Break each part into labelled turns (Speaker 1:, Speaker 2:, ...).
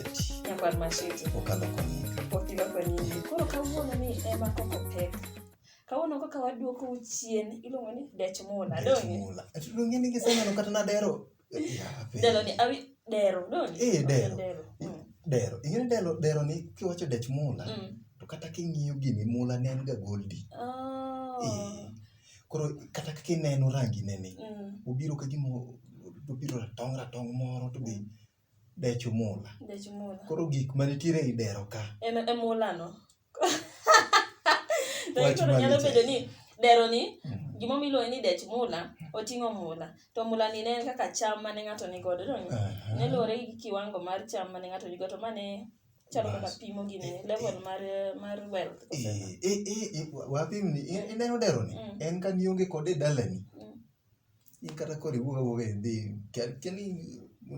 Speaker 1: Nyakwar Mashiti. Okalo konyika.
Speaker 2: Okilo konyini.
Speaker 1: Koro kawuono ni ema koko pek. Kawuono kaka waduoko u chien iluongo ni dech mula. Donge? Mula. Ati donge ni
Speaker 2: giseneno kata na dero. Yape. Delo ni awi dero.
Speaker 1: Donge? Eh, dero. Dero. Mm.
Speaker 2: Dero. Ing'e ni dero, dero ni kiwacho dech mula, Mm. to kata king'iyo gini mula ne en ga goldi. Oh. Eh. Koro kata kaka ineno rangi ne ni, Mm. obiro ka gima obiro ratong' ratong' moro to be Dech mula. Dech mula. Koro gik ma nitiere e dero ka. En e mula no.
Speaker 1: Dech mula. Nyalo bedo ni dero ni mm. gimo miluongo ni dech mula oting'o mula to mula ni ne en kaka cham mane ng'ato ni godo to ne luwore gi kiwango mar cham mane ng'ato ni godo to mane chalo kaka pimo gini eh, level eh. mar mar wealth eh, eh, eh, eh,
Speaker 2: wapimni ineno dero ni mm. en ka nionge kode dalani mm. in kata koro iwuog awuoga idhi kel- keli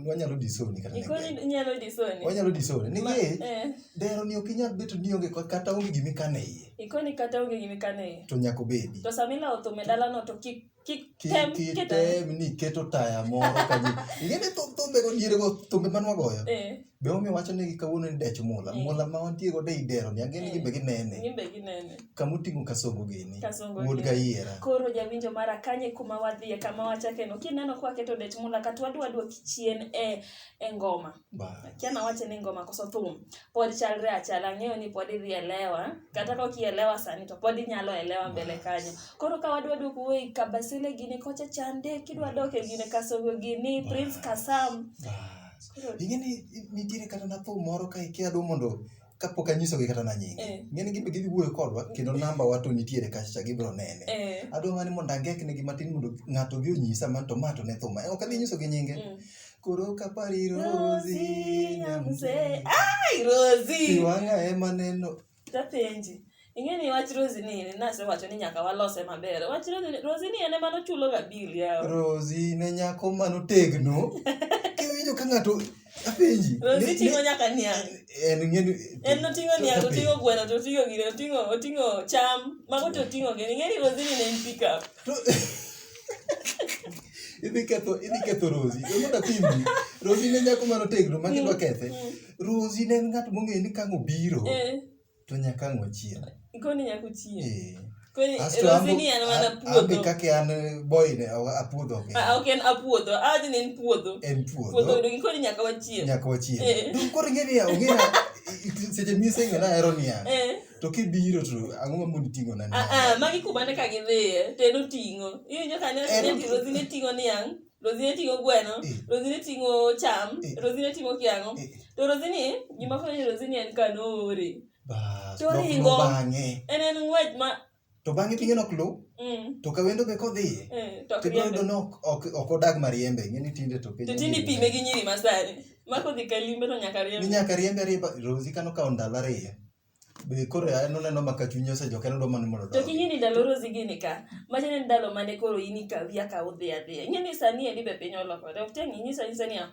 Speaker 2: wanyalo disoni kata Iko ni nege. inyalo disoni.
Speaker 1: wanyalo disoni Ma- nikech
Speaker 2: eh, dero ni ok inyal beto ni onge ko- kata onge gima ikano e iye Iko ni kata onge gima
Speaker 1: ikano e iye. to nyaka obedi To sama
Speaker 2: ilawo thum e
Speaker 1: dalano to kik kik Ki- tem keto.
Speaker 2: kitem ni iketo taya moro kanyo ing'e ni thum- thumbego dierego thumbe manwagoyo Eh, Be omi wacho negi kawuono ni dech mula, Eh. mula ma wantie godo ei dero ni ang'e ni Eh. gin be ginene. Gin be ginene. Kama oting'o kasongo gini, Kasongo wuod gini. gayiera. Koro jawinjo mara
Speaker 1: kanye kuma wadhiye kama wachake no. Kineno kwa keto dech mula kata wadwa duoki chien e e ngoma. Ba. Kiana wache ni ngoma koso thum. Pod chalre achala ng'eyo ni pod idhi elewa. Kata ka okielewa sani to pod inyalo elewa mbele kanyo. Koro ka wadwa duoku wei kabasele gini kocha chande kidwa doke gine kasongo gini Prince Kasam Ba. ing'e
Speaker 2: ni nitiere kata na thum moro ka ikia dum mondo kapok anyisogi kata na nyinge Eh. ing'e ni gimbe gidhi wuoyo kodwa kendo namba wa to nitiere kacha gibiro nene Eh. adwa mana ni mondo angek negi matin mondo ng'ato odhi onyisa man to ma to ne thuma ok adhi nyisogi nyinge Mm. koro kapari Rosie rosi nyamze Nyamze. ai rosi
Speaker 1: iwang'a ema
Speaker 2: neno Tapenji.
Speaker 1: Ing'e ni wach Rosie ni ne asewacho ni nyaka walose maber. Wach Rosie ni Rosie ni en ema nochulo ga bill yawa. Rosie ne nyako
Speaker 2: mano tegno. Kiwinjo ka ng'ato apenji. Rosie ting'o nyaka
Speaker 1: niang'. En ng'edo. En noting'o niang', oting'o gweno, to oting'o gire, oting'o oting'o cham, mago to oting'o gini. Ing'e ni Rosie ni ne en pick up.
Speaker 2: Idhi ketho idhi ketho Rosie. Emoda pimni. Rosie ne nyako mano tegno ma kidwa kethe. Rozi ne en ng'at mong'eyo ni kang' obiro Eh, to nyaka ang' wachiem. koni nyaka uchiem.
Speaker 1: Eh. Koni Asto Rozi ambo-
Speaker 2: ni en mana
Speaker 1: a- ambe puodho. kaka an
Speaker 2: boy ne awa- apuodho ok en. Ah, ok en apuodho.
Speaker 1: Ah, ni en puodho. En Puodho puodho odong
Speaker 2: koni nyaka
Speaker 1: wachiem. nyaka wachiem. Eh. Dum
Speaker 2: koro ing'e ni ong'eya seche miseng'e na ahero niya Eh. to kibiro to ang'o ma mondo iting'o na Ah, ah, magi kuma ne ka gidhiye
Speaker 1: to en oting'o. Iwinjo ka ne En- ne Rozi ne ting'o niang'. Rosine ting'o gweno, Eh. Rosine ting'o cham, Eh. Rosine ting'o kiang'o. Eh. To Rosine, gima fwenyo ni Rosine en ka noore. Bas, To nok ringo. luw bang'e. En en
Speaker 2: ng'wech ma
Speaker 1: To bang'e pinye nok
Speaker 2: luw, mm, to ka wendo be kodhiye. eh, to ok To ibiro yudo riembe. ni ok- ok ok odag mariembe, ing'e ni tinde to piny To tinde ong'ere. ipime gi nyiri
Speaker 1: masani. Ma kodhi ka limbe to nyaka Ni riembe. nyaka riembe ariemba,
Speaker 2: Rosie kano kawo ndalo ariyo. Be koro ya en oneno ma ka chunye osejok en odwa mana mondo To odog. king'e ni ndalo Rosie
Speaker 1: gini ka, machal ni ndalo mane koro in ikawi akawa udhi adhiya. Ing'e ni sani endi be piny olokore. Ok tiang' inyisa anyisa niya,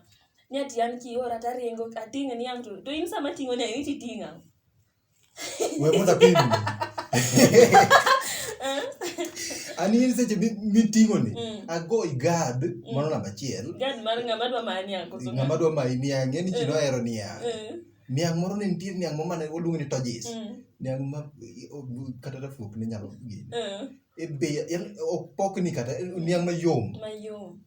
Speaker 1: ni ati an kiora to aringo, ating'o ni ang' to, to in sama ating'o ni ang' iti iting'o ang'.
Speaker 2: We mondo apim. An in seche mi- miting'o ni, Mm. ago igad, mano namba achiel. Gad mar ng'ama dwa
Speaker 1: mani ang' koso Ng'ama dwa mayi niang', ng'e
Speaker 2: ni ji Eh. nohero niang'. Eh. niang' moro ne nitie niang' moro mane waluongo ni tojis Mm. niang' ma kata rafuok ne nyalo gini Eh, e bei en ok pokni kata en niang' mayom Mayom.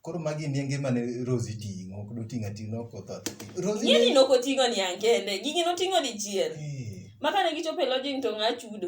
Speaker 2: koro magi niange mane rosi ting'o ok doting'o ating'o ok otho rosi Ng'e ni ne- nokoting'o
Speaker 1: niang' kende, gigi noting'o dichiel. Eh, Ma kane gichopo e lodging to ng'a chudo?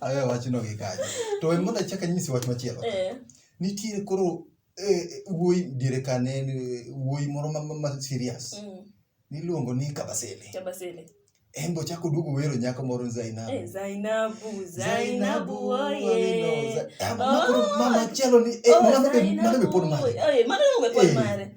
Speaker 2: awe wachno gi kanyo to we mondo achak anyisi wach machielo Eh, nitiere koro eh, wuoyi diere ka ne en, eh, wuoyi moro ma- ma- ma serious mm, niluongo ni kabasele Kabasele. en be ochako duogo wero nyako moro ni zainabu Eh, Zainabu,
Speaker 1: Zainabu, oye. Zainabu, ma koro
Speaker 2: mama chielo ni eh, Oh, mano be- mano be pod Zainabu. mare Eh, mano be pod Eh. mare.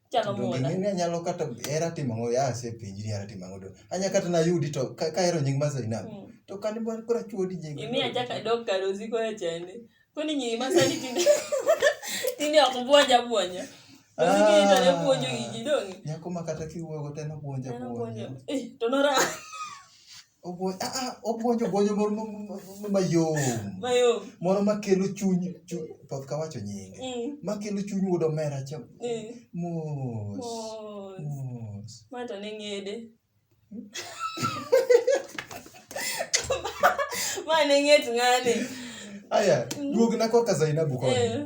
Speaker 1: Chalo To muoda. ging'eni anyalo kata
Speaker 2: hera timo ang'o ya asepenji ni hera timo ang'o to anya kata nayudi to ka ka ahero nying ma Zainab Mm. to kane bwana koro achuodi nying Imi achaka dok kar
Speaker 1: osiko e chende. Koni nyiri ma sani tinde tinde ok buonja buonja. Osiko ito ne buonjo gigi donge. nyako ma kata kiwuoyo
Speaker 2: go to en obuonja Neno buonjo. buonja Eh, to
Speaker 1: nora. Obuonjo, ah, ah,
Speaker 2: obuonjo, obuonjo moro ma- ma- ma- mayom. Mayom. Moro makelo chuny, chuny poth ka wacho nyinge. Mm. Makelo chuny wuod omera cha. Mm. Mos. Mos.
Speaker 1: Mos. Ma to ne ng'ede. Ma ne ng'et ng'ane. Aya,
Speaker 2: duogna korka Zainabu koni. Eh.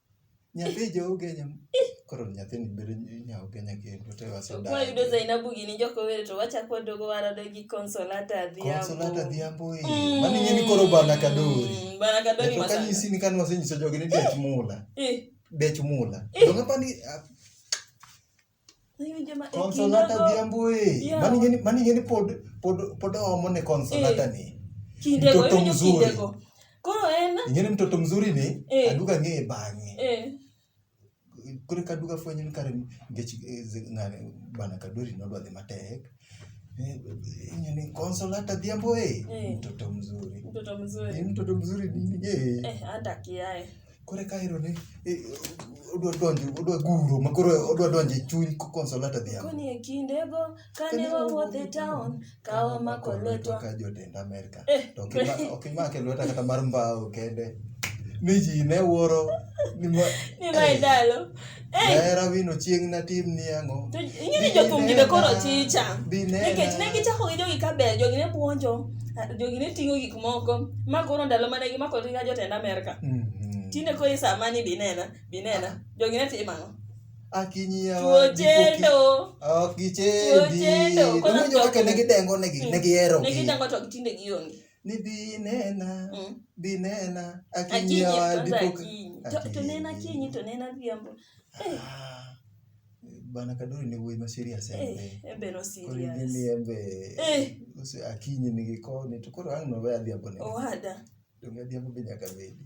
Speaker 2: nyathi jougenya koro nyathini bedo nyaugenya kendo to wasewayudo zainabu gini
Speaker 1: jokowere to wachako wadogo warado gi consolata adhiamboconsolata adhiambo
Speaker 2: e mm. mani ng'e ni koro bana kadori mm, bana kadori to kanyisi
Speaker 1: ni kane wasenyiso
Speaker 2: jogi ni dech mula dech mula dong'apani Consolata Odhiambo eh. Mani ngeni pod pod pod omo ne Consolata eh. ni. Kinde go mtoto mzuri.
Speaker 1: Koro en ingeni mtoto mzuri ni
Speaker 2: eh. aduga ng'eye bang'e. Eh. Kore kaduga fwenyo ni kare ngech ng'ane bana kadori nodwa dhi matek. Eh, yenye ni console hata dhiambo eh. Eh. Mtoto mzuri. Mtoto Eh, mzuri. mtoto mzuri nini eh. Eh, hata kiae.
Speaker 1: Kore kairo ne
Speaker 2: eh, odwa donje odwa guro makoro odwa donje chuny ko console hata dhiambo. Kuni ekindego
Speaker 1: kane wawuothe town kawa mako lwetwa Ka jotend Amerka
Speaker 2: Eh. To ok ima- ok imake lweta kata mar mbao kende ni ji ne wuoro ni ma- Ni mae dalo.
Speaker 1: Eh. hera
Speaker 2: wino chieng' natim ni ang'o To ing'e ni jothum gi
Speaker 1: be koro chicha. Dinena. Nikech ne gichako gi jogi ka ber, jogi ne puonjo, ah, jogi ne ting'o gik moko. Ma koro ndalo mane gimako ringa jotend Amerka. Mhm. Tinde koro isamani binena, binena. Jogi ne timo ang'o?
Speaker 2: tuochendo
Speaker 1: ok gichendi
Speaker 2: kono jo kaka ne gidengo ne gi ne gihero ne gidengo to gitinde
Speaker 1: gionge ni binena
Speaker 2: mm. binena akinyawa dipoka
Speaker 1: to nena kinyi to nena biambo ah, eh.
Speaker 2: bana kaduri ni wuoyi ma serious eh, embe embe no serious
Speaker 1: koro ni embe
Speaker 2: eh. akinyi ni gikoni to koro ang' no we adhiambo ne owada donge
Speaker 1: adhiambo be
Speaker 2: nyaka bedi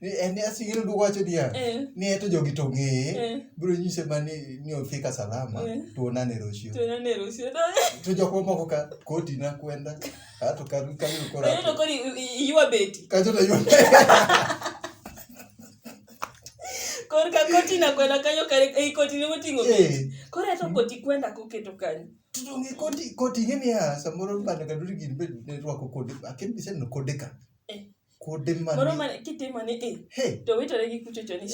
Speaker 2: Ni en ni asingine duoko wacho dia. Eh. Ni eto jogi to ng'eye. Eh. Biro nyise ma ni ni ofika salama. Eh. Tuonane Rocio. Tuonane Rocio. To jok moko ka koti na kwenda. Ato ka ka yuro kora. Ayo to kori
Speaker 1: yuwa beti. Ka to yuwa. Kor ka koti na kwenda kanyo kare ei eh, koti ne moting'o. Eh. Kor ato koti kwenda koketo kanyo. Tutonge koti
Speaker 2: koti ng'e niya samoro bana kaduri gin be ne rwako kode. Akin biseneno kode ka. kude ma moro ma kitimo ni
Speaker 1: i he to witore gi kuchocho ni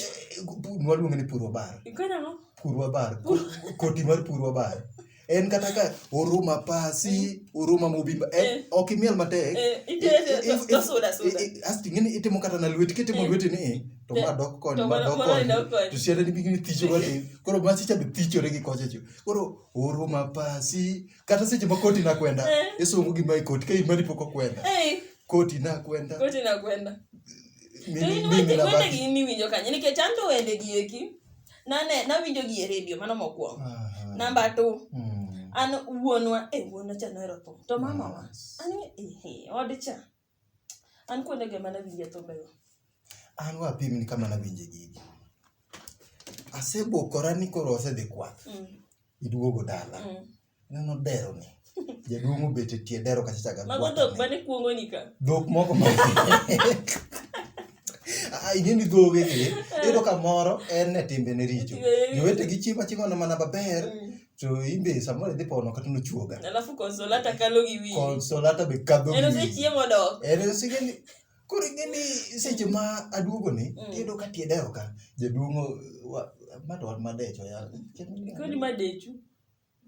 Speaker 1: waluonge ni
Speaker 2: puro bar ikona no purwa
Speaker 1: bar
Speaker 2: koti mar purwa bar en kata ka oruma pasi oruma mobimba eh, Eh. ok imiel matek eh ite dosuda
Speaker 1: suda asti ngini itimo
Speaker 2: kata na lweti kitimo Eh. lweti ni eh, to Eh. ma dok koni To ma mano- dok mano koni idok koni. to siada ni bigini thicho wati koro masicha be thichore gi kochecho koro oruma pasi kata seche ma koti nakwenda eh. isungu gima e koti ka in mari pok okwenda eh. koti nakwenda koti
Speaker 1: nakwenda wendegi miwinjo kanye nikech an to wendegi eki nane nawinjo gi e redio mano mokwongo namba to hmm. an wuonwa e wuonwa cha nohero thum to mamawa an e, e, od cha An kuonde go ema nawinje thumbego. An
Speaker 2: wa apimni kama nawinje gigi. Asebokora ni koro asedhi kwath. Mm. Iduogo dala. Mm. Neno dero ni. Jaduong' obet e tie dero kacha chaga Mago
Speaker 1: dhok mane kuongo ni ka. Dhok moko
Speaker 2: ma. Ah, ing'e ni dhoge gi. Iyudo ka moro en e timbene richo. Jowete gi chiemo achiema mana maber. Mm. to imbe samoro idhi pono kata nochuoga alafu konsolata
Speaker 1: kalo gi wiyi konsolata be kadho
Speaker 2: en osechiemo dok en
Speaker 1: osegeni
Speaker 2: koro ingeni seche ma aduogo ni mm. tiyudo ka tieda oka jaduong'o mato wan madecho koni madechu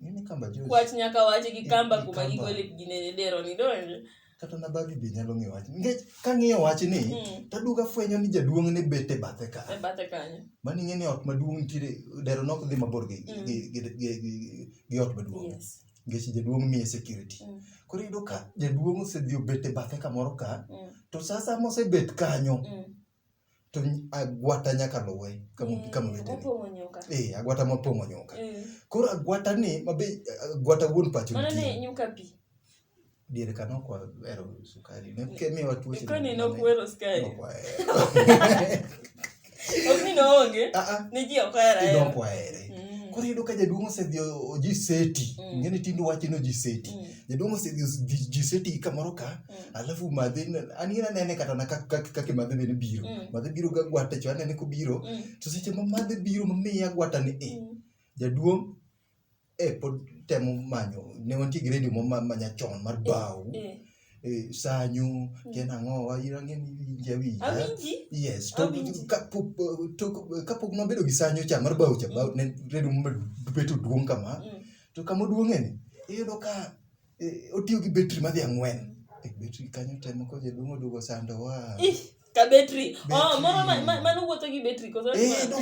Speaker 1: nini kamba
Speaker 2: juice kwach nyaka wache gi
Speaker 1: kamba kuma gigole ginene dero ni donje kata na babi be
Speaker 2: nyalo ng'eyo wach nikech kang'iyo wachni Mm. taduogo afwenyo ni jaduong' ne bet e bathe ka E bathe kanyo. mano
Speaker 1: ing'e ni ot maduong'
Speaker 2: nitiere dero nok dhi mabor gi, Mm. gi, gi, gi, gi, gi ot maduong' Yes. nikech jaduong'
Speaker 1: miye
Speaker 2: security Mm. koro iyudo ka jaduong' osedhi obet e bathe kamoro ka Mm. to sasa mosebet kanyo Mm. to agwata nyaka luwe eh, agwata mopong'o nyuka eh. koro agwata ni mabe agwata wuon pacho
Speaker 1: diere ka
Speaker 2: nokwahero sukari nemiwa
Speaker 1: tuocheokwahero
Speaker 2: koro iyudo ka jaduong' osedhi oji seti mm. ng'e ni tindo wacho ni oji seti mm. jaduong' osedhi oji seti kamoro ka Mm. alafu madhe anina anene kata na kak- kak- kake madhe bende biro Mm. madhe biro ga gwata cho anene kobiro Mm. to seche ma madhe biro mamiya gwata ni e Mm. jaduong' e pod temo manyo ne wantie gi redio ma manyachon mar bao Eh. e, sanyo kena ang'o wayirange ni winja winja Awinji? yes to Awinji. kapok to kapok nobedo gi sanyo cha mar bao cha bao ne redio mabedo duong' kama Mm. to kama oduong'eni iyudo ka eh, otiyo gi betri madhi ang'wen e betri kanyo temo ko jaduong' oduogo sando wa Ih, ka
Speaker 1: betri oh, moro ma- ma- mano wuotho gi betri koso Eh, no,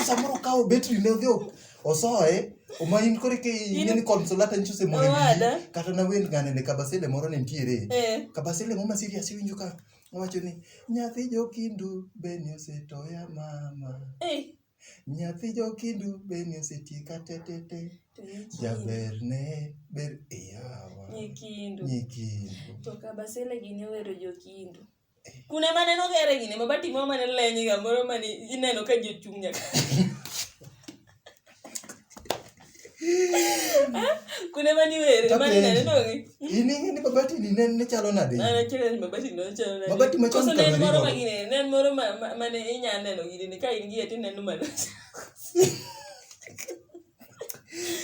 Speaker 1: samoro
Speaker 2: okawo betri ne odhi o- osoye oma in koro ke ing'e ni consolata nyicho osemoro e wiyi Owada. kata nawend ng'ane ne kabasele moro ne nitiere Eh. kabasele moma serious iwinjo ka owacho ni nyathi jokindu beni osetoya mama Eh, Nyathi jokindu be ni osetiek atetete. To nyikindu- Jaber ne ber e yawa. Nyikindu.
Speaker 1: Nyikindu. To kabasele gini owero jokindu. Kuna mane
Speaker 2: nogere gini
Speaker 1: mabati moro mane lenye ga moro mane ineno ka ji ochung' nyaka. kuna mani were mani nene nongi ini ngini babati
Speaker 2: ni nene chalo na de ana kile ni babati no
Speaker 1: chalo na babati ma chalo na moro ma gine nene moro ma mane inya neno gine ni ka in gi eti neno mano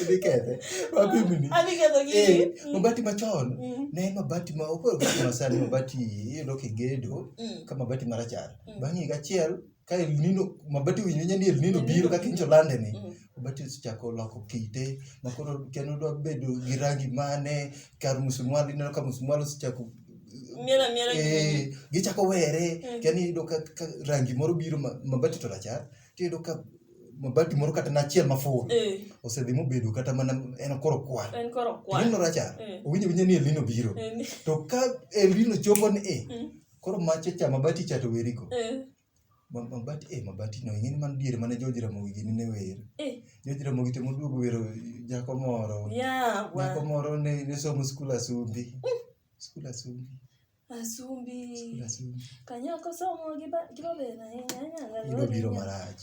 Speaker 2: Nikethe. Wapi mni? Ani ketho gini. Eh,
Speaker 1: mm. mabati machon. Mm.
Speaker 2: Ne mabati ma okoro mabati masani mabati iloke gedo mm. kama mabati marachar. Bang'i gachiel ka El Nino mabati winjo nyani El Nino biro kaka injo lande ni Mm. mabati osechako loko kite makoro kendo dwa bedo gi rangi mane kar musumwal ineno ka musumwal osechako Miel amiela
Speaker 1: gi- eh,
Speaker 2: gichako were Mm. kendo iyudo ka, ka rangi moro biro ma- mabati to rachar tiyudo ka mabati moro kata nachiel maful Eh, osedhi mobedo kata mana en koro kwar en koro kwan. Elino rachar Mm. owinjo winjo ni elino biro Eh, ni- to ka elino chopo ni e Mm. Koro mache cha mabati cha to weri go. Eh. Ma- Mabati eh mabati no ing'eni man diere mane George Ramogi gini ne wer. Eh. George Ramogi to moduogo wero nyako moro. Yeah, Nyako wa. moro ne ne somo skul Asumbi. Skul Asumbi. Skul Asumbi.
Speaker 1: Asumbi. Kanyako somo gi ba- gi babena. eh, nyanya, Ibiro
Speaker 2: biro nyanya. marach.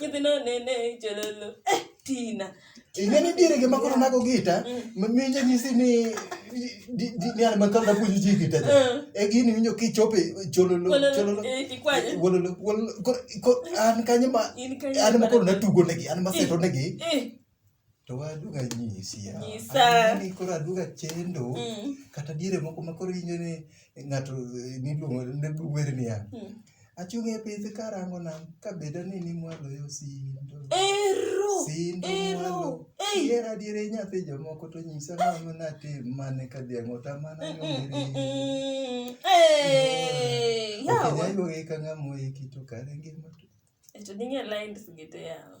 Speaker 1: nyithindo nene jololo eh, tina ing'e ni
Speaker 2: diere gima koro nago gita minjo nyisi ni di- di- ni an makal napuonjo ji gita cha. Mm. e gini winjo kichope chololo Wololo, chololo eh, kikwanye. wololo wololo Koro- koro an kanyo ma In kanyo an ma koro mana- natugo negi an maseto negi eh to waduga nyisi ya. Nyisa. Ani koro aduga chendo Mm. kata diere moko ma koro injo ni ng'ato eh, niluongo ne wer niya. Mm. Achung' e pith karango nam ka bedo ni ni mwalo yo sindo. Ero. Sindo Ero. mwalo. Ei. Diere adiere nyathi jomoko to nyisa ng'ama natim mane ka dhiang' otamana Mm, mm, mm, nyongeri. mm. Ei. Yawa. Okinyayuogi ka ng'ama oiki to kare ngima to. Eto dinge
Speaker 1: lines gite yawa.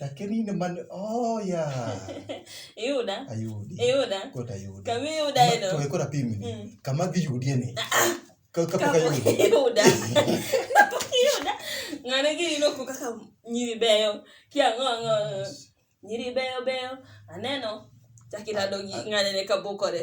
Speaker 2: Lakini ine man oh yeah. Yuda.
Speaker 1: Ayudi. Yuda. Kota Yuda. Kami
Speaker 2: Yuda eno. Kwa
Speaker 1: kota pimi. Mm.
Speaker 2: Kama di Yuda ne. Ah, ah. Kau kapa ka Yuda. Yuda.
Speaker 1: Kapa ka Yuda. Ngana ki ino ku kaka nyiri beyo. Kia ngo ngo. Nyiri beyo beyo. Aneno. Chakita dogi ngane ne kabukore.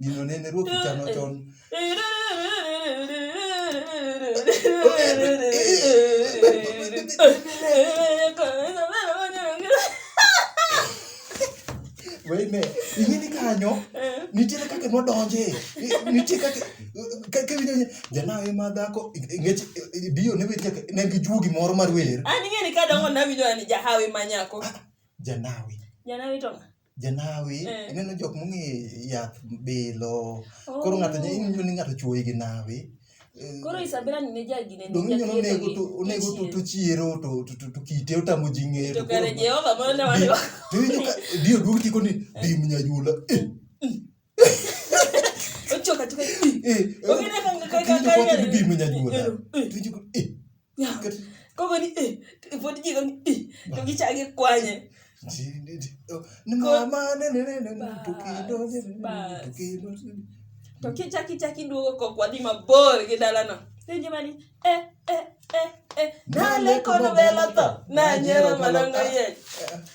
Speaker 1: Gino
Speaker 2: nene ruoth chano chon. Weyne, ing'e ni kanyo nitiere kaka nodonje nitie kaka kaka winjo ni janawe ma dhako ngech biyo ne weche ne gi juogi moro mar wer An ing'e ni kadongo nawinjo
Speaker 1: ni jahawi ma nyako. janawe
Speaker 2: Janawi to ng'a?
Speaker 1: janawi eh.
Speaker 2: ineno jok mong'e yath bilo oh. koro ng'ato ineno ni ng'ato chuoyi gi nawi eh, koro isabela
Speaker 1: ni ne jagine ni donge nyono nego to
Speaker 2: nego to to chiero to to to to kite otamo jinge to kare jehova mono
Speaker 1: ne wale to inyo ka dio
Speaker 2: duogi tiko ni eh. bim nyajula eh
Speaker 1: ochoka tuka eh
Speaker 2: ongene kanga kanga kanga bim nyajula to inyo eh
Speaker 1: Koko ni eh, pod ji koni eh, to gichak gikwanye.
Speaker 2: To
Speaker 1: kichak ichak iduogo kok wadhi mabor gi dalano. Penjo mani eh eh eh eh. Nale kono vela to. Nanyero malongo yech.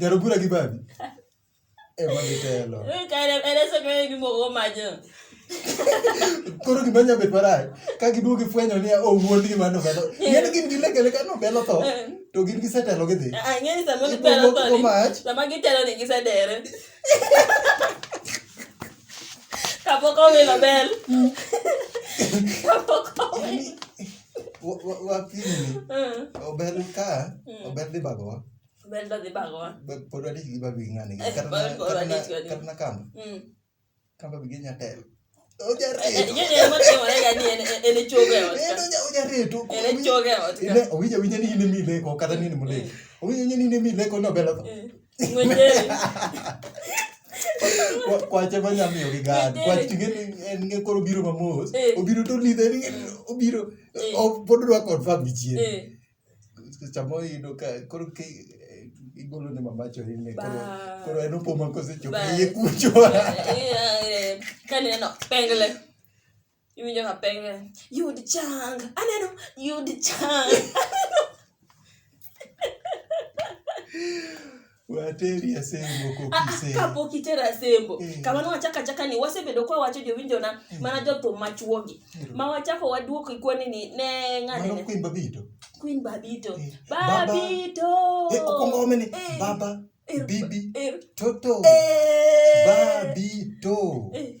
Speaker 1: Jarobura
Speaker 2: gi babi. Eh, mami telo. Koro gima nya bet marach, ka giduogo gifwenyo niya, oh, wuon gima nobelo. Ng'eni gin gi lekele ka nobelo tho, to gin gisetelo gidhi. Ng'eni sama gibelo
Speaker 1: tho ni, sama gitelo ni gisedere. Kapok owilo bel. Kapok owilo.
Speaker 2: wakinini ober ka ober dhi bagowa ober dwa dhi
Speaker 1: bagowa pod wadich gi babi
Speaker 2: ng'ani kata na kamba kamba bi ginya telo owinjo awinja ni in emi ileko kata ni in muleko owinjo awinja ni in emi ileko nobelo tho kwache ma nyamiyo gi gad kwach ting'eni en ng'e koro obiro mamos eh. obiro to lidhe ni obiro eh. pod dwa confirm gi chien eh. chamo yudo ka koro igolo ne mamacho ine koro en opoma kosechopo iye kucho kaneno
Speaker 1: pengle iwinjo ka penge yud chang aneno yud chang
Speaker 2: wateri asembo kokisee kapok itero asembo
Speaker 1: Eh. kamano wachaka chaka ni wasebedo kwa wacho jowinjona mana jothum machuogi Ero. ma wachako waduoko ikwani ni ne mano ng'ane kwin babito queen babito Eh, Baba. babito Eh,
Speaker 2: okwongo omene Eh. baba Ero. bibi Ero. toto Eh. babito Eh.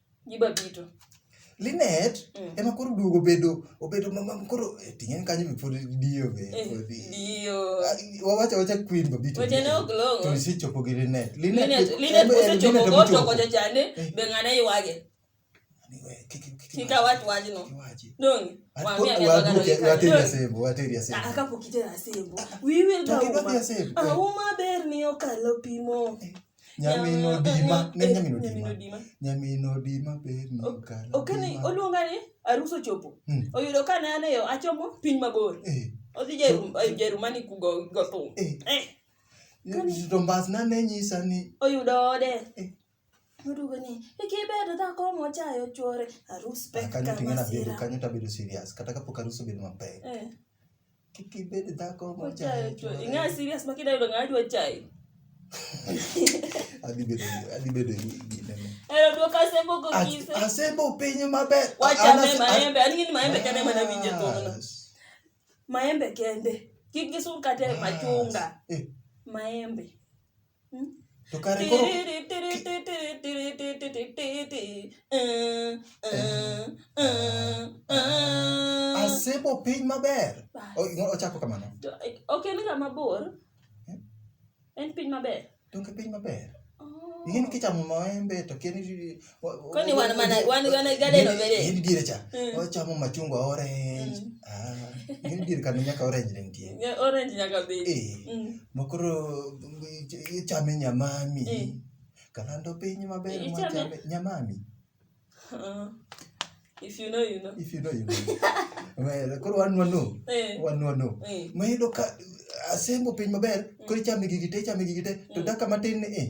Speaker 1: Giba bito. Linet
Speaker 2: mm. ema koro duogo obedo obedo mama koro eh, ting'eni kanyo be pod diyo be eh, pod diyo ah, wawacha wacha queen ba bitu wacha no glongo to
Speaker 1: si chopo gi Linet
Speaker 2: Linet Linet kose chopo
Speaker 1: go to ko jachane eh. be ng'ane iwage kika watu wajino dongi wambia ni waga no kika
Speaker 2: wateria sembo wateria
Speaker 1: sembo akapokitera sembo we will go ah, uma berni okalo pimo
Speaker 2: nyamino dima ne nyamino dima nyamino dima ber no kala okani oluonga ni
Speaker 1: aruso chopo hmm. oyudo ka ne ane yo achomo piny mabor eh. odhi jerumani eh, kugo go thum
Speaker 2: eh. eh. to mbas na ne nyisa ni oyudo ode eh.
Speaker 1: Murugo ni ikibedo dhako mochayo chwore arus pek kama sira. Kanyo tabedo serious
Speaker 2: kata kapok arus obedo mapek. Eh. Kik ibed dhako ma Ochayo chwo. Ing'ayo serious ma kidayudo
Speaker 1: ng'a dwa chayo.
Speaker 2: Adhi bedo adhi bedo gi ginene. Ero dwoka sembo
Speaker 1: go kise. As- Asembo piny
Speaker 2: maber. Wacha An- me an- maembe.
Speaker 1: An ng'e ni maembe kende ema nawinje thuolo. As- Maembe kende. Kik gisum kata e machunga. Eh, Maembe.
Speaker 2: To kare koro asebo piny maber. O- no, Ochako kamano. ok en ga
Speaker 1: mabor en piny maber Donge piny maber?
Speaker 2: Oh. Ing'e ni kichamo maembe to kia ni Kwani wana mana
Speaker 1: wana wana gade no bere. Yidi dire cha. Hmm.
Speaker 2: Ocha mo machungwa orange. Hmm. Ah. Yidi dire kanu nyaka orange lentie. Ya orange nyaka be.
Speaker 1: Eh. Hmm. Makoro
Speaker 2: cha me nyamami. Eh. Kalando pinyi maber mo cha me nyamami.
Speaker 1: Uh, if you know you know. If you know
Speaker 2: you know. Well, koro wan wano. Eh. Wan wano. Eh. Mayudo ka asembo piny maber, koro ichame gigi te, ichame gigi te, to hmm. daka matin ni eh.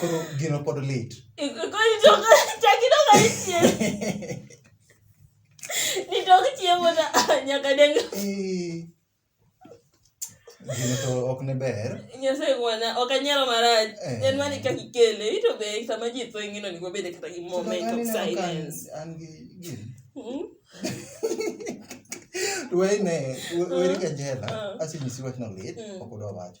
Speaker 2: Koro gino pod lit.
Speaker 1: Nitok chiemo na nyaka deng.
Speaker 2: Gino to ok ne ber. Nyasaye ngwana
Speaker 1: ok anyalo marach. Eh. En mani kaka ikele ito be sama ji tho ingino ni wabede kata gi moment of silence. An gi gin.
Speaker 2: Hmm? Wene, wene kanjela. Ah. Asi nyisi wachno lit, hmm. ok odwa wacho.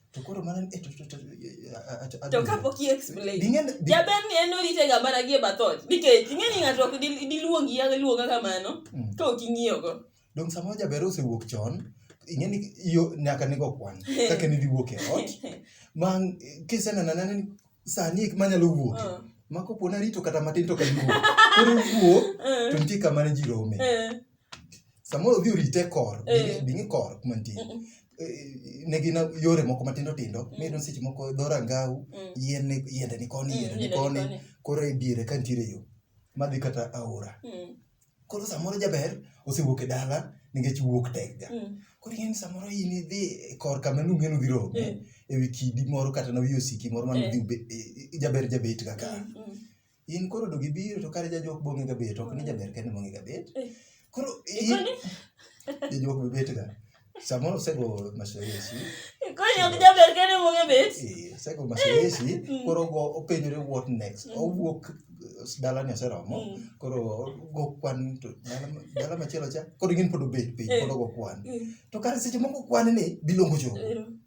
Speaker 2: To koro mana e to to to
Speaker 1: to kapok i explain Ding'e- di- jaber ni en orite ga mana gie bathot nikech ing'e ni ng'ato ok di- diluongi ya luonga kamano Mm. ka ok ing'iyogo dong samoro jaber
Speaker 2: osewuok chon ing'e ni yo nyaka nigo kwan kaka nidhi wuok e ot ma kisenena nene ni sani ek manyalo wuok Ah. ma kopo narito kata matin to kadiwuok koro wuok Eh, to nitie kama ne ji rome eh. samoro odhi orite kor eh. bing'i kor kuma nitie eh, ne gin yore moko matindo tindo mm. miyudo seche moko dho rangau mm. yiende yiende ni koni yiende ni koni koro e diere ka nitiere yo madhi kata aora mm. koro samoro jaber osewuok e dala nikech wuok tekga koro ing'eni samoro in idhi e kor kama nung'eni udhi rome e wi kidi moro kata na wi osiki moro mane udhi jaber jabet kaka in koro do gibiro to kare jajuok bong'e gabet ok ni jaber kende bong'e gabet Eh. koro in- Ikoni? jajuok be bet ga samoro osego masoesi Ikoni ok
Speaker 1: jaber kende mong'e bet. Eh, osego masoesi
Speaker 2: Mm. koro go openjore what next Mm. owuok eh, dalani oseromo Mm. koro go kwan to dala ma- dala machielo cha koro ing'eni pod obet piny Eh. pod ogo kwan Mm. to kare seche moko kwan ni biluongo jogo Ero.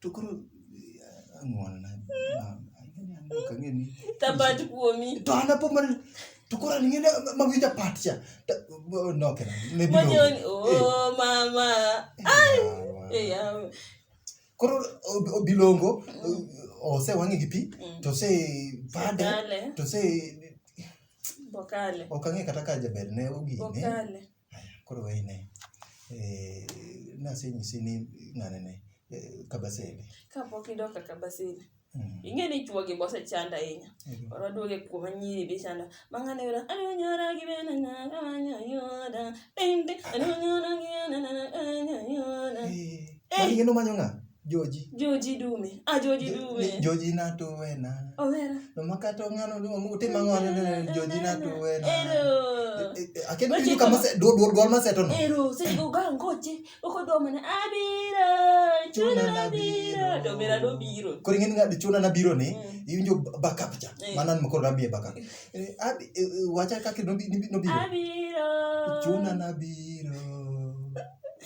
Speaker 2: to koro ang'walna tapat
Speaker 1: kuomi to an apo mar
Speaker 2: to koro an ng'ene mawinja pat cha Ta- oh, no kena ne biro monyoni o oh,
Speaker 1: mama ai e yawa
Speaker 2: koro ob- obilongo ose wang'e gi pi Mm. to se pade Bokale. to se
Speaker 1: bokale ok ang'e kata ka
Speaker 2: jaber ne ogine bokale
Speaker 1: Koro we ine.
Speaker 2: Eh, nasenyisi ni ng'ane ne eh, Kabasele. Kapok idok
Speaker 1: ka Kabasele. Mm. Ing'e ni chuo gi bose chanda ahinya. Ego. Koro duoge kuoma nyiri bi chanda. Ma ng'ane yura anyora gi bena na kanya yora. Ding ding anyora gi bena na kanya yora. Eh, Eh. mani gino
Speaker 2: manyo ng'a?
Speaker 1: joji
Speaker 2: joji dume ah joji dume joji na
Speaker 1: to wena
Speaker 2: owera no makato ngano no mu te mango ne joji na to wena
Speaker 1: ero akin ni
Speaker 2: kama se do do do ma se to no ero se go ga ngoche
Speaker 1: uko do mana abira chuna na biro do mera do biro ko ngin ga de chuna na
Speaker 2: biro ni mm. iwinjo backup cha eh. manan mko rabie backup eh, abi eh, wacha ka ki no bi no biro abira
Speaker 1: chuna na
Speaker 2: biro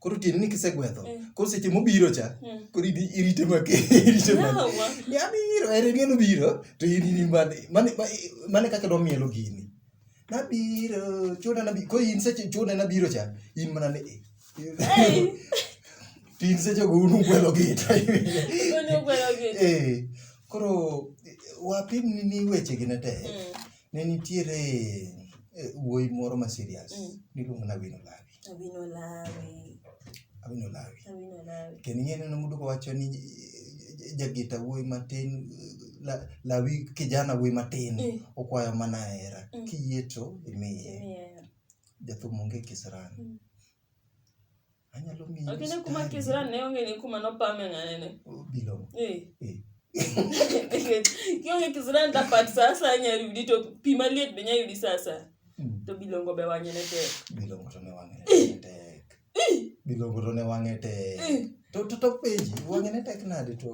Speaker 2: koro tieni ni kisegwedho eh. koro seche mobiro cha eh. koro idi irite make irite make ni abiro ere ni obiro to in ni mane mane mane kaka do mielo gini nabiro chona nabi ko in seche chona nabiro cha in mana ne tin seche go unu gwelo gita unu gwelo gita eh koro wapim ni ni weche gi ne te mm. ne nitiere eh, wuoyi moro ma serious mm. niluongo na wino labi Abinolawi. Abinolawi. Abinolawi. Kendo ing'e ni muduko wacho ni eh, jagita wuoyi matin eh, la- lawi kijana wuoyi matin Mm. okwayo mana hera Mm. kiyie to imiye Imiye. jathum onge kisirani Mm. anyalo miyi Lakini kuma mstari. Kisirani ne
Speaker 1: onge ni kuma nopame ng'anene. Bilongo. Eh.
Speaker 2: Eh.
Speaker 1: kionge kisirani ta pat sa asaya nya yudi to pi maliet be nya yudi sa asaya mm. to bilongo be wang'e ne tek bilongo to ne wang'e ne eh.
Speaker 2: tek eh. bilongo to ne wang'e tek eh. to to to peji wang'e ne tek nade to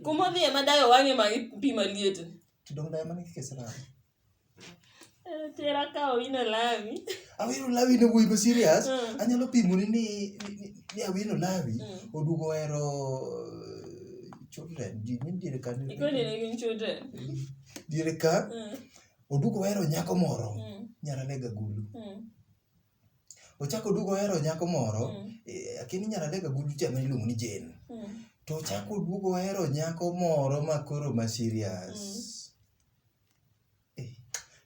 Speaker 2: kuma dhiye madayo
Speaker 1: wang'e ma pi maliet to dong dayo mana
Speaker 2: kisirani
Speaker 1: Tera ka owino lawi. Awino lawi ne
Speaker 2: wuoyi ma serious. Mm. Anyalo pimoni ni ni- ni- ni awino lawi Mm. oduogo ohero eh, children. Ji ni diere ka ni- Ikoni ne gin
Speaker 1: children. diere ka
Speaker 2: Mm, oduogo ohero nyako moro mm, nyarane gagulu. mm, Ochako oduogo ohero nyako moro mm, eh, akini nyarane gagulu cha ma iluongo ni Jane. mm. To ochako oduogo ohero nyako moro ma koro ma serious.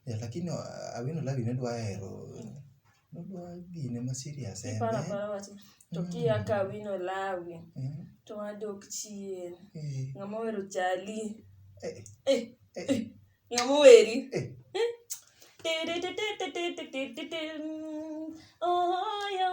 Speaker 2: Yeah, lakini wa- awino labi ne dwa hero ne dwa gine ma serious en Iparo eh? apara wach to
Speaker 1: kia ka wino lawi Eh, to wadok chien. eh, Ng'ama ohero chali. eh, Eh, eh, eh, ng'ama oheri. eh. Ti-ti-ti-ti-ti-ti-ti-ti-ti. Oh, yo.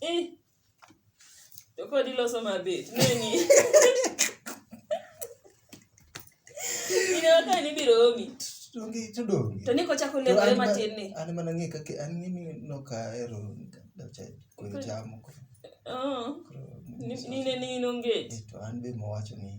Speaker 2: Eh.
Speaker 1: To kod iloso mabet. Neni. Inawaka ni biro omi. Donge to donge. To niko
Speaker 2: chako lego
Speaker 1: ema tin ni. An mana ng'e kaka an ng'e
Speaker 2: ni no ka ero dacha ko jamo. Oh.
Speaker 1: Ni ne ni nonge. To an be mo wacho
Speaker 2: ni.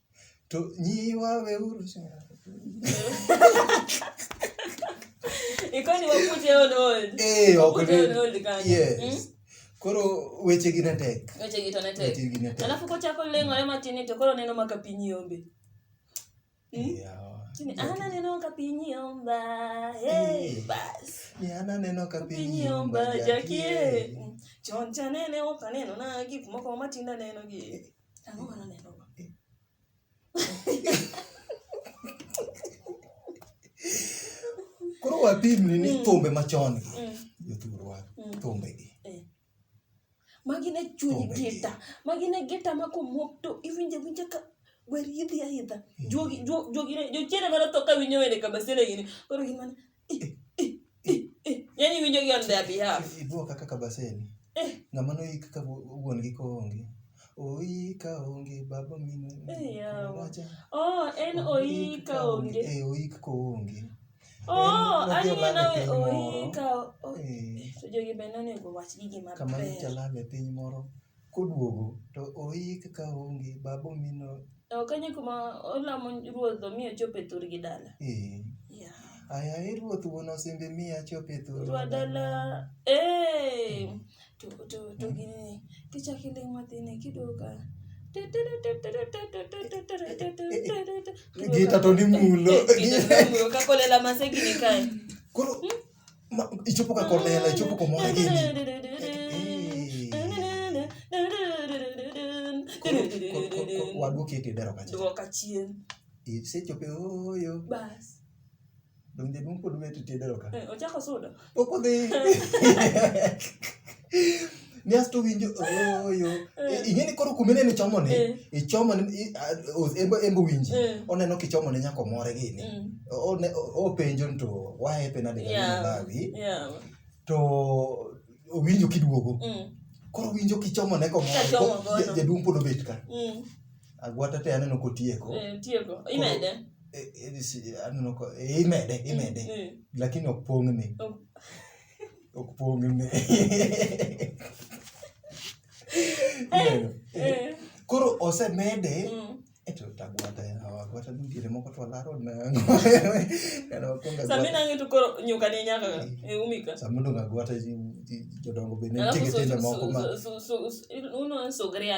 Speaker 2: To nyiwa weuru
Speaker 1: Ikoni waput your own old. Eh, ok Put your own old kanyo.
Speaker 2: Yes. Mm? Koro weche gi ne tek. Weche gi to ne tek. Weche gi ne tek.
Speaker 1: Alafu kochako leng'ore matin ni to koro neno maka piny yombe. Mm? Yeah. Ni ana neno ka piny yomba. Hey, Eh. bas. Ni ana neno
Speaker 2: ka piny Piny yomba yomba jakie. jakie.
Speaker 1: Chon cha nene ok aneno na gik moko matindo aneno gi. Ang'o ma naneno?
Speaker 2: Koro wapimni ni Mm. thumbe machon gi Mm. jothurwa Mm. thumbe gi.
Speaker 1: Magi ne chuny Thumbe gi. gita. Magi ne gita ma komwok to iwinjo awinja ka wer yidhi aidha. Juogi juo- juogi ne jochiende mana tho ka winjo wende kabasele gini. Koro gin mana Yaani winjo gi on their behalf. Ibuo kaka kabaseni.
Speaker 2: Eh. Ng'ama no yik ka wuon gi ko onge. Oika onge baba mine. Wacha. Oh, en
Speaker 1: oika onge. Eh, oik ko onge.
Speaker 2: Oh,
Speaker 1: ani na oika. Eh. Jogi bende onego wach gigi maber. Kama jalame piny
Speaker 2: moro. Koduogo to oik ka onge babo mino. To kanye kuma
Speaker 1: olamo ruoth omi ochop e thurgi dala. Ee. Yeah.
Speaker 2: Ayaye ruoth wuon osembe mi achop e thurwa Ruoth dala.
Speaker 1: Ee. To to to gini kichaki ling mathini kidoka.
Speaker 2: Gita to ni mulo. Gita to ni mulo kakolela
Speaker 1: masegini kae. Koro
Speaker 2: Ichopoka kwa mela, ichopo kwa mwana gini. Waduki eti dero kacha. Dero kachien.
Speaker 1: Ise chope
Speaker 2: oyo. Bas.
Speaker 1: Donge
Speaker 2: mumpo dume eti dero kacha. Eh, ochako soda.
Speaker 1: Okodhi.
Speaker 2: niasto winjo oyo eh. ing'e ni koro kumine ni chomone eh. ichomone embo winji eh. oneno kichomone nyaka omore gini mm. openjo ni to wahepe nadegalawi to owinjo kiduogo mm. koro winjo kichomone komore jaduong' pod obet ka mm. agwata te aneno kotieko aneno imede imede lakini ok pong'ni Ok pong' ne. Ineno? Eh. Koro osemede Mm. eto tagwata agwata nitiere moko to alaro nango. Kana wakwongo Sami agwata.
Speaker 1: nang'e to koro nyuka ni nyaka ka. Eh, umika. Sama odong' agwata ji-
Speaker 2: ji- jodongo bende nitie Alafu so, gitende moko ma so, so, so, so, uno
Speaker 1: sugria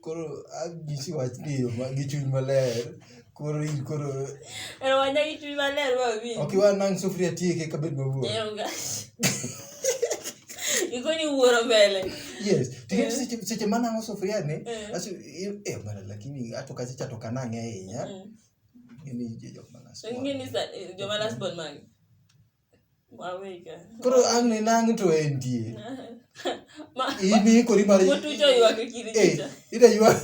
Speaker 2: koro anyisi wach ni yo ma- gi chuny maler koro in koro Ero
Speaker 1: wanya gi chuny maler ma winj. ok iwa nang' sufuria
Speaker 2: tieke ka bed mawuo Ero ga.
Speaker 1: Ikoni wuoro mbele. yes tikech
Speaker 2: seche seche manang'o sufuria ni Eh. aso eh bana lakini ato kacha chato kanang'e ahinya Mm. ng'eni jok manas Ingeni sa
Speaker 1: joma last born magi. Wawega. Koro ang'
Speaker 2: ne nang' to entie. Ma. Ini ikori mar. Mutu jo ywak
Speaker 1: e kiri. Eh, ida ywak.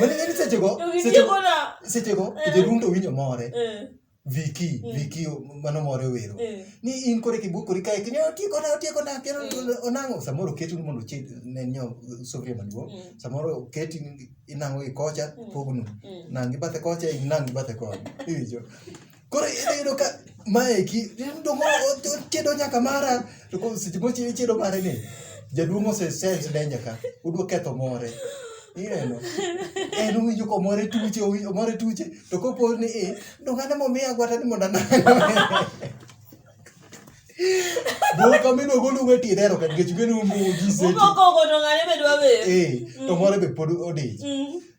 Speaker 2: Mane ng'ani seche go. Seche go. Seche go. Eh. Seche rundo winyo more. Eh. Viki, mm. Viki mano more wero. Mm. Ni in kore kibu kore kae kinyo tieko na tieko na kero mm. onango samoro ketu ni mondo chit ne nyo sofia maduo. Mm. Samoro ketu inango ikocha mm. pogno. Mm. Nangi bate kocha inangi bate kocha. Ijo. Koro iyudo ka maeki dongo otedo nyaka mara to ko seche mochi ichido mare ni jaduong' ose sense danger ka udwa ketho more ineno en owinjo komore tuche owinjo omore tuche to kopo ni i dongo ane momiya agwata ni mondo anang' Boka mino golu we ti dero kan gechu genu mu ji se. Uko ko ko to ngane
Speaker 1: bedwa be. Eh, to moro be pod
Speaker 2: odi.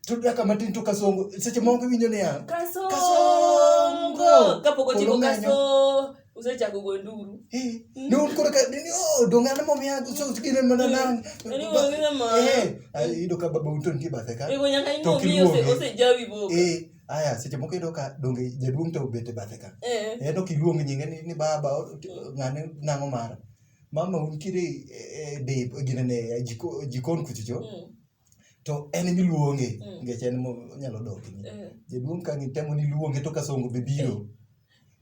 Speaker 2: To daka matin to kasongo seche moko winjo ne ya. Kasongo.
Speaker 1: Kasongo. Kapo ko timo kasongo. usechako go nduru eh, hmm? no koro
Speaker 2: ka ni oh donga na mom yangu so sikire mana hmm. nang ni wangina ma eh ido ka baba uton ki bathe ka to nyaka ingo mi ose
Speaker 1: ose jawi boka eh aya seche moko
Speaker 2: iyudo ka donge jaduong' to obet e bathe ka Eh. en ok iluong nyinge ni, ni baba o- t- ng'ane nang'o mara mama untiere e- e dip ginene e jiko- jikon kuchocho Mm. to en miluonge Mm. nikech en monyalo dok Eh. jaduong' ka ngitemo ni luonge to kasongo be biro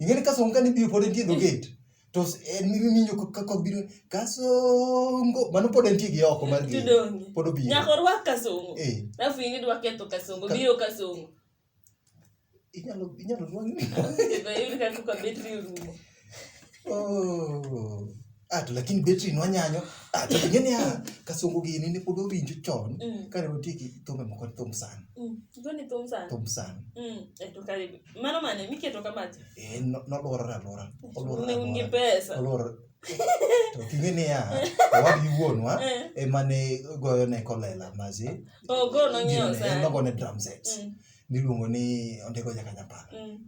Speaker 2: ing'e ni kasongo kane biro pod entie dho gate to s- en miwinjo ka- ka kok biro kasongo mano pod entie gi oko mar gate Tudonge. pod obiro Nyaka orwak kasongo.
Speaker 1: Eh. Alafu ing'e dwa ketho kasongo, Ka- biro kasongo.
Speaker 2: inyalo inyalo rwang Kendo yud kaka
Speaker 1: betri orumo. Oh.
Speaker 2: Ah, to lakini betri no nyanyo. Ah, to ngene ya kasungu gini ni podo winjo chon. Mm. Kare woti ki thumbe moko thum sana. Mm. Goni thum
Speaker 1: sana. Thum sana. Mm. E to karibu. Mano mane miketo kama ti. Eh, no no lora ra
Speaker 2: lora. Olora. Ne
Speaker 1: ungi pesa. Olora.
Speaker 2: To kingene ya. Wa bi won wa. Eh. E mane goyo ne kolela mazi. Oh, go no nyo
Speaker 1: sana. Ne go ne drum sets. Mm.
Speaker 2: Niluongo ni ondego nyaka nyapala. Mm.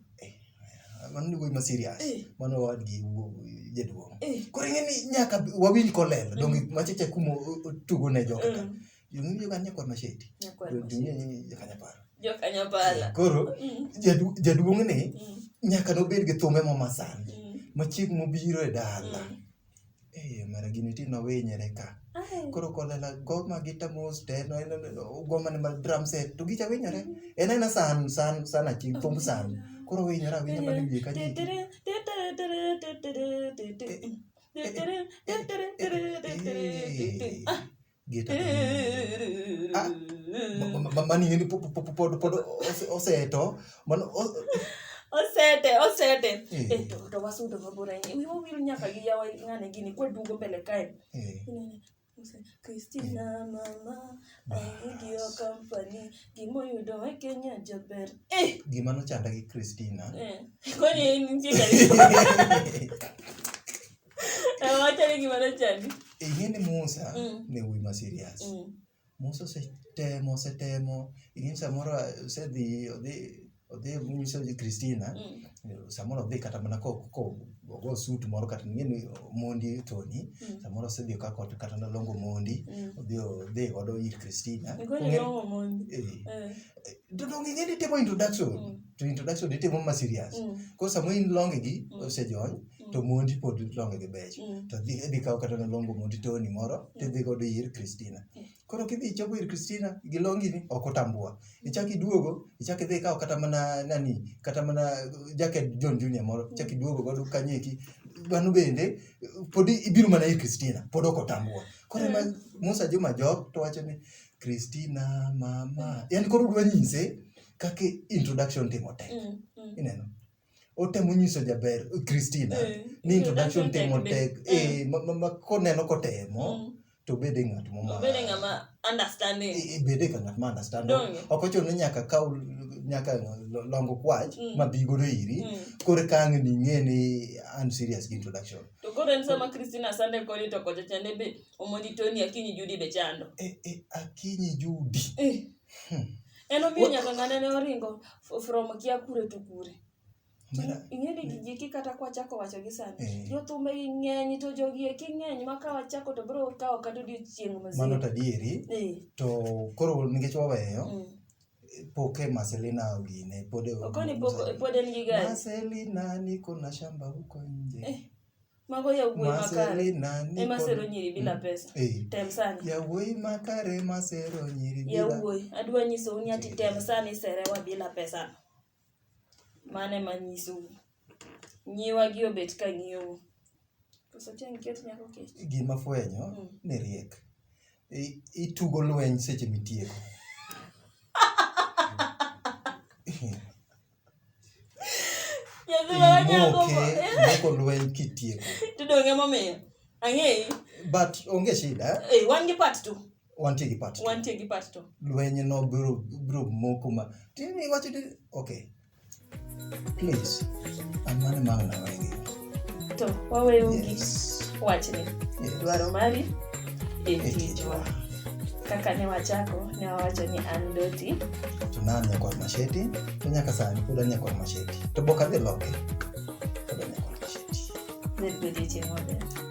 Speaker 2: mano ni wuoyi ma serious Eh. mano owadgi wuo- jaduong Eh. koro ing'e ni nyaka bi- wawinj kolel donge macheche kuma o- o- tugo ne joka ka Mm. jong'e joka nyakwa masheti Nyakwar Masheti. jong'e joka nyaparo
Speaker 1: Jokanyapala. koro Mm, jadu-
Speaker 2: jaduong' ni mm, nyaka nobed gi thumbe momasan mm, ma chieng' mobiro e dala mm. Eh, mara gini ti nowinyre ka. Ai. Koro kolela goma gita mos te no en goma ne mar drum set to gicha winyore. En en san san san achi thum san. Koro winyore awinya mana wiye ka ji. Geta. Ah, ma- ma- ma- mani yini pod pod- pod- pod ose- oseto mano o- osete osete
Speaker 1: Eh. Eh, to to wasudo mabor ahinya wiwa wil nyaka gi yawa ng'ane gini kwaduogo mbele kae eh, Inene, use, Christina mama ayudi yo company gimoyudo e Kenya jaber eh gima nochanda
Speaker 2: gi Christina eh kwani
Speaker 1: nitie gari Wachani gima nochandi. Ing'e
Speaker 2: ni Musa Mm. ne wuoyi ma serious. Mm. Musa osetemo osetemo ing'e ni samoro osedhi odhi odhi nyiso ji Christina Mm. samoro odhi kata mana ko ko ogo suit moro kata ing'e ni mondi thoni Mm. samoro osedhi okako kata nalongo mondi Mm. odhi odhi godo ir Christina. Nilikuwa Ong'e- nilongo mondi. Eh. Eh. To donge ing'e ni itimo introduction Mm. to introduction itimo ma serious. Mm. Koro sama in longe gi Mm. osejony to mondi pod longe gi beche to dhi dhi kawo kata nolongo mondi toni moro tidhi godo ir Christina koro kidhi ichopo ir Christina gi longi ni ok otambua ichak iduogo ichak idhi ikawo kata mana nani kata mana jacket John Junior moro ichak iduogo godo kanyo eki mano bende pod ibiro mana ir Christina pod ok otambua koro ema Musa Juma Job to wacho ni Christina mama yani koro dwa nyise kaka introduction timo tek ineno otemo nyiso jaber Christina eh, ni introduction temo tek eh, eh ma koneno kotemo mm. to bede ng'at moma bede ng'ama
Speaker 1: understanding eh, bede ka ng'at ma
Speaker 2: understand ok ochuno ni nyaka kaw nyaka longo kwach mm. ma bi godo iri mm. kore kang ni ng'e ni an serious gi introduction to koro en sama
Speaker 1: Christina sande koni to kocha chande be omoni Tony Akinyi Judi be chando eh eh Akinyi
Speaker 2: Judi eh
Speaker 1: Hmm. en omiyo nyaka ng'ane ne oringo f- from kia kure to kure Mara- ing'e ni gigiki kata kwachako wacho gi sani Eh. jothumbe gi ng'eny to jogi eki ng'eny ma ka wachako to biro kawo kata odiochieng' mano mazima to adieri Eh,
Speaker 2: to koro nikech waweyo mm. poke maselina ogine pod e- okoni pod
Speaker 1: en gi gari maselina niko
Speaker 2: na shamba huko nje Eh. Mago yawuoyi
Speaker 1: makare Marcelina ni ema kod- sero nyiri bila pesa. Eh. Tem sani. Yawuoyi makare
Speaker 2: masero nyiri bila- Yawuoyi, adwa nyisou
Speaker 1: ni ati tem sani serewa bila pesa. Mano ema nyisou. Nyiwa gi obet ka ng'iyou. Koso tiang' ket nyako kech. gima fwenyo Mm.
Speaker 2: ni riek I- itugo lweny seche mitieko Imoke lweny kitieko. Tudonge momiyo.
Speaker 1: Ang'eyi. But onge
Speaker 2: shida. Eh, eh wan gi part 2.
Speaker 1: Wantie gi part 2. Wantie
Speaker 2: gi part 2. Lweny
Speaker 1: no
Speaker 2: bro bro moko ma. Tini wacho okay. Please. Amane maana wewe. to
Speaker 1: waweyo gi wachni dwaro mari e tijwa kaka ne wachako ne wawacho ni an doti to nan nyakwar
Speaker 2: masheti to nyaka sani pod an nyakwar masheti to bok adhi loke pod an
Speaker 1: nyakwar
Speaker 2: masheti
Speaker 1: ne
Speaker 2: godiechieng' maber